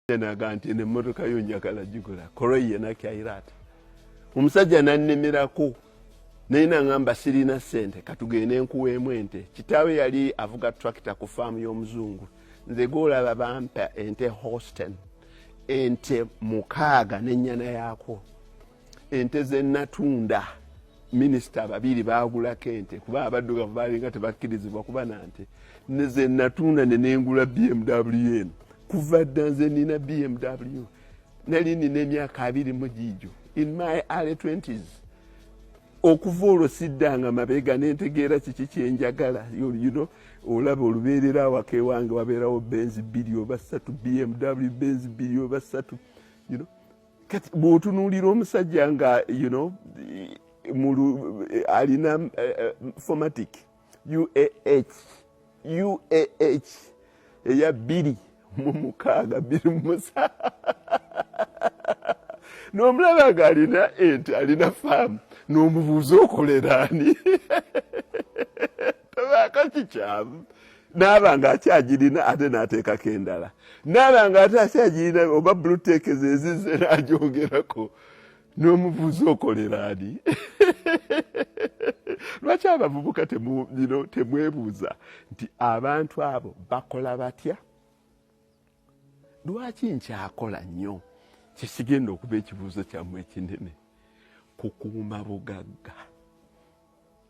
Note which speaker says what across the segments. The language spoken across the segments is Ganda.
Speaker 1: naga nti nemotoka yo njagala gigula koroiye nakyayira ati omusajja nannimirako naye nangamba sirina sente katugende nkuweemu ente kitaawe yali avuga tracta ku faamu y'omuzungu nze golaba bampa ente hosten ente mukaaga nenyana yaakwo ente zenatunda minisita babiri bagulako ente kuba abaddugavu balinga tebakkirizibwa kuba nante zenatunda nenengula bmw eno kuva dda nze nina bmw nali nina emyaka abiri mu giijo in my early 20s okuva olwo siddanga mabega nentegeera kiki kyenjagala you know olaba olubeerera awaka ewange wabeerawo benzi bbiri oba ssatu bmw benzi bbiri oba ssatu you know kati bwotunuulira omusajja nga you know mulu alina uh, formatic uah uah eya bbiri mu mukaaga bbiri mu musa n'omulaba nga alina ente alina faamu n'omubuuza okoleraani tabaako kikyamu naaba nga akyagirina ate nateekako endala naaba nga ate akyagirina oba buluteekeza ezize nagyogerako n'omuvuzi okolera ani lwaki abavubuka temubino temwebuuza nti abantu abo bakola batya lwaki nkyakola nnyo kyesigenda okuba ekibuuzo kyammwe ekinene kukuuma bugagga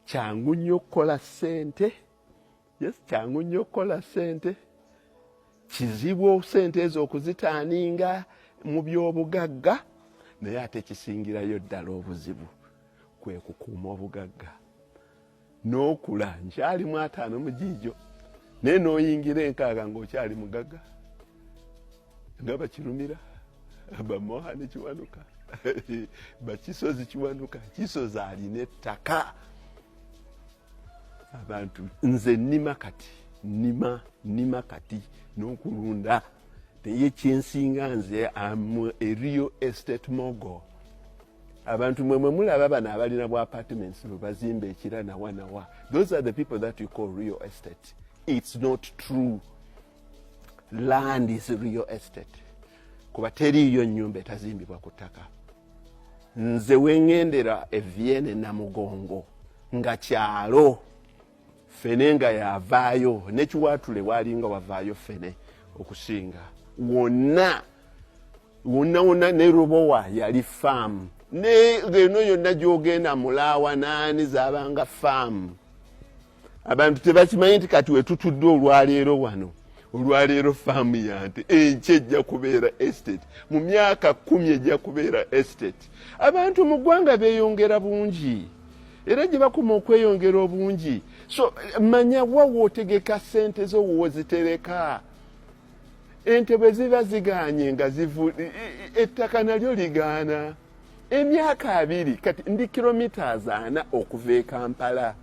Speaker 1: kyangu nnyo okukola ssente yes kyangu nnyo okukola ssente kizibu ssente ezo okuzitaaninga mu by'obugagga naye ate kisingirayo ddala obuzibu kwe kukuuma obugagga n'okula nkyali mu ataano mu giijo naye n'oyingira enkaaga ng'okyali mugagga nga bakirumira bamoha ne kiwanuka bakisozi kiwanuka kisozi alina ettaka abantu nze nima kati nima nima kati n'okulunda naye kyensinga nze am a real estate mogo abantu mwe mwe mulaba bano abalina bwa apartments lwe bazimba ekira nawa nawa those are the people that you call real estate it's not true land is real estate kuba teriiyo nyumba etazimbibwa ku ttaka nze wengendera eviene namugongo nga kyalo fene nga yavaayo nekiwatule walinga wavaayo fene okusinga wonna wonna wonna ne rubowa yali faamu neno yonna gyogenda mulaawa naani zabanga faamu abantu tebakimanyi nti kati wetutudde olwaleero wano olwaleero faamu yante enky ejja kubeera estate mu myaka kumi ejja kubeera estate abantu mu ggwanga beyongera bungi era gye bakuma okweyongera obungi so manya wawo otegeka sente zo wozitereka ente bwe ziba ziganye nga ettaka nalyo ligaana emyaka abiri kati ndi kilomitas ana okuva e kampala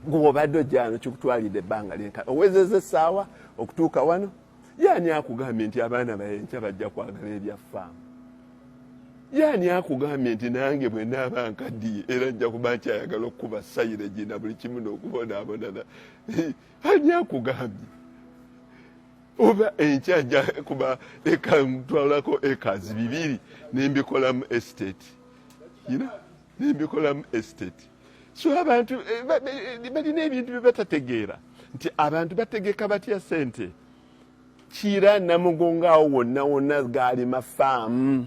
Speaker 1: gwobadde ojano kikutwalidde ebbanga lyenka owezeza essaawa okutuuka wano yaani akugambye nti abaana bayenkya bajja kwagala ebyaffaamu yaani akugambye nti nange bwe naaba nkaddiye era nja kuba nkyayagala okukuba sayiregi na buli kimu n'okubonaabonana ani akugambye oba enkya ajja kuba eka mutwalako ekazi bibiri nembikolamu estate you know? nembikolamu estate so abantu eh, eh, balina ebintu byebatategeera nti abantu bategeka batya sente kiira namugongo awo wonna wonna gaalima faamu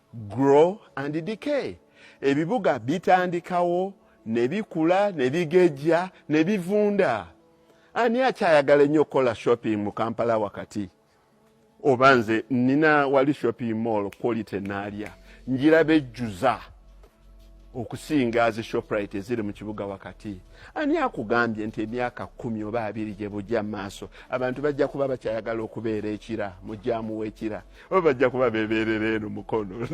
Speaker 1: Grow and decay. Ebibuga bitandikawo ne bikula ne bigejja ne bivunda. Ani akyayagala ennyo okukola shopping mu Kampala wakati? Oba nze nina wali shopping mall quality naalya njiraba ejjuza. okusinga zi shoprite eziri mu kibuga wakati ani akugambye nti emyaka kumi oba abiri gye bujja mu maaso abantu bajja kuba bakyayagala okubeera ekira mu jaamu w'ekira oba bajja kuba bebeerera eno mukono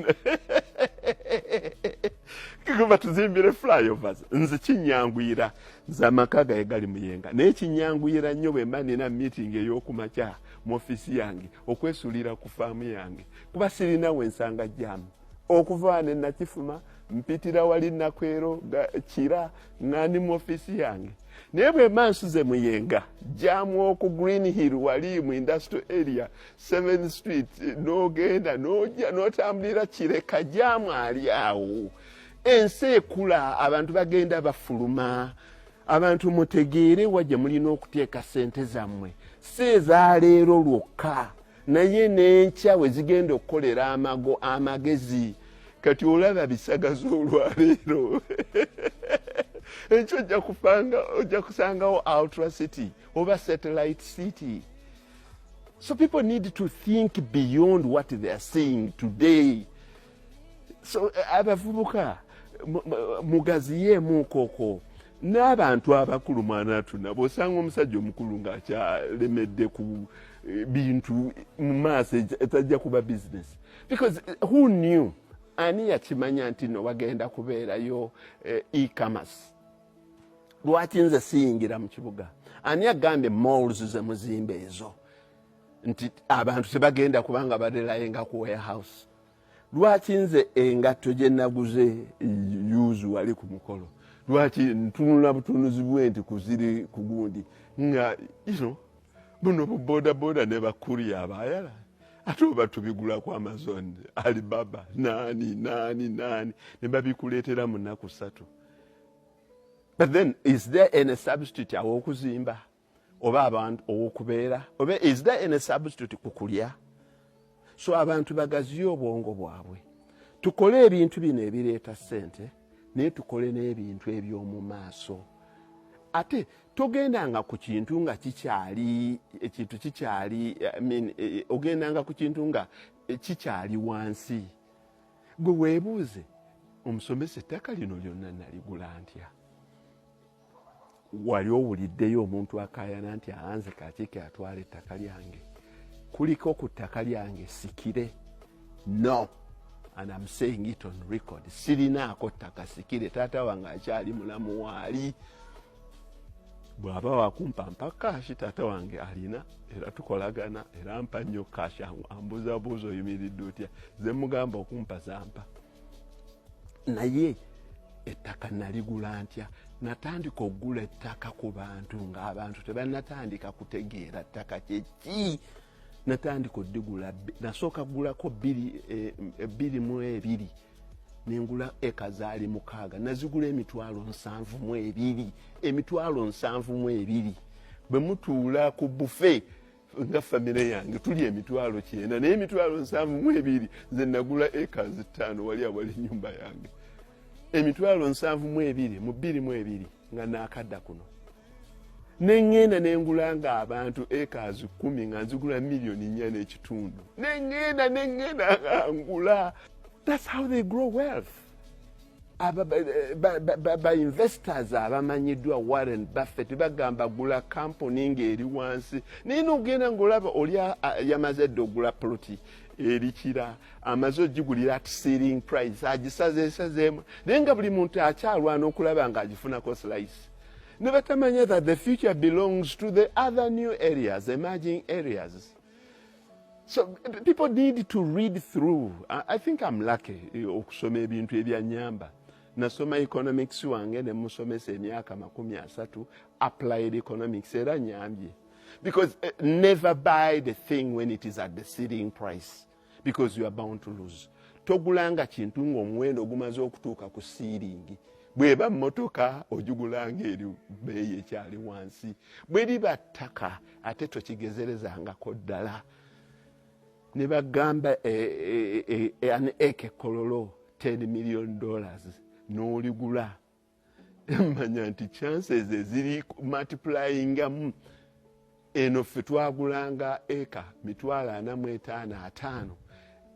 Speaker 1: kiguma tuzimbire flyovers nze kinyanguyira nze amaka gaye gali muyenga naye kinyanguyira nnyo bwe mba nina meeting ey'okumakya mu ofiisi yange okwesulira ku faamu yange kuba sirina we nsanga jaamu okuva ne nakifuma mpitira wali nakwero kira ngandi mu ofisi yange naye bwemba nsuze muyenga jamu oku green hill wali mu industrial area seven street nogenda noja notambulira kireka jamu ali awo ensi ekula abantu bagenda bafuluma abantu mutegeere wa gye mulina okuteeka sente zammwe si ezaleero lwokka naye n'enkya we zigenda okukolera amago amagezi kati olaba bisagaza olwaleero enkyo ojja kufanga ojja kusangawo outra city oba satellite city so people need to think beyond what they are seeing today so eh, abavubuka mugaziyeemu koko n'abantu abakulu mwanatu nabo osanga omusajja omukulu ng'akyalemedde ku eh, bintu mu maaso etajja kuba bizinesi because eh, who knew ani yakimanya nti no wagenda kubeerayo ecommerce lwaki nze siyingira mu kibuga ani agambye malls ze muzimba ezo nti abantu tebagenda kubanga barelayenga ku warehouse lwaki nze engatto gye naguze yuzu wali ku mukolo lwaki ntunula butunuzi bwe nti kuziri ku gundi nga ino buno bubodaboda ne bakuriya abayala ate oba tubigulaku amazon alibaba nani nani nani ne babikuleetera mu nnaku ssatu but then is there any substitute awokuzimba oba abantu owokubeera oba is there any substitute ku kulya so abantu bagaziye obwongo bwabwe tukole ebintu bino ebireeta ssente naye tukole n'ebintu eby'omu maaso ate togendanga ku kintu nga kikyali ekintu kikyali mean eh, ogendanga ku kintu nga eh, kikyali wansi gwe weebuuze omusomesa ettaka lino lyonna naligula ntya wali owuliddeyo omuntu akayana nti aanze kakike atwala ettaka lyange kuliko ku ttaka lyange sikire no and am saying it on record sirinaako ttaka sikire taata wange akyali mulamu waali bwaba wakumpa mpa kashi taata wange alina era tukolagana era mpa nnyo kashi ambuzabuuza oyimiridde otya zemugamba okumpa zampa naye ettaka naligula ntya natandika okugula ettaka ku bantu ngaabantu tebanatandika kutegeera ttaka kyeki natandika odigula nasooka kugulako bbiri eh, mu ebiri nengula eka zaali mukaaga nazigula emitwalo nsanvu mu ebiri emitwalo nsanvu mu ebiri bwe mutuula ku bufe nga famire yange tuli emitwalo kyenda naye emitwalo nsanvu mu ebiri nze nagula acres ttaano wali awali enyumba yange emitwalo nsanvu mu ebiri mu bbiri mu ebiri nga nakadda kuno neŋŋenda ne ngula nga abantu ekaazi kkumi nga nzigula miliyoni nnya n'ekitundu neŋŋenda neŋŋenda nga ngula thats how they grow wealth bainvestors abamanyiddwa warren buffet bagamba gula kampuni ngaeri wansi naye nogenda ngaolaba oli yamaze dde ogula poloti erikira amaze ogigulira at sealing price agisazesazeemu naye nga buli muntu akyalwana okulaba nga agifunako slice nebatamanya that the future belongs to the other new areas emerging areas so people need to read through i think am lucky eh, okusoma ebintu ebyanyamba nasoma economics wange nemusomesa emyaka makumi asatu applied economics era nyambye because uh, never buy the thing when it is at the sealing price because you are bound to lose togulanga kintu ng'omuwendo ogumaze okutuuka ku siiringi bweba mmotoka ogigulanga eri beeyi ekyali wansi bwe liba ttaka ate tokigezerezangako ddala ne bagamba eh, eh, eh, an eke kololo 10 million dollars n'oligula manya nti chances eziri multiplyingamu eno ffe twagulanga eka mitwalo ana mu etaano ataano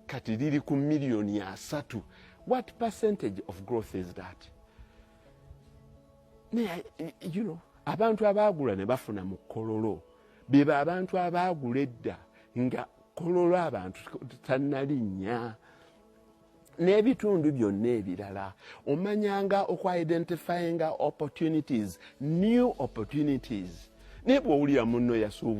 Speaker 1: kati liri ku miliyoni asatu what percentage of growth is that naye you know abantu abaagula ne bafuna mu kololo bebo abantu abaagula edda nga kololo abantu tanalinnya n'ebitundu byonna ebirala omanyanga okuidentifyinga opportunities new opportunities naye bwowulira munno yasuubula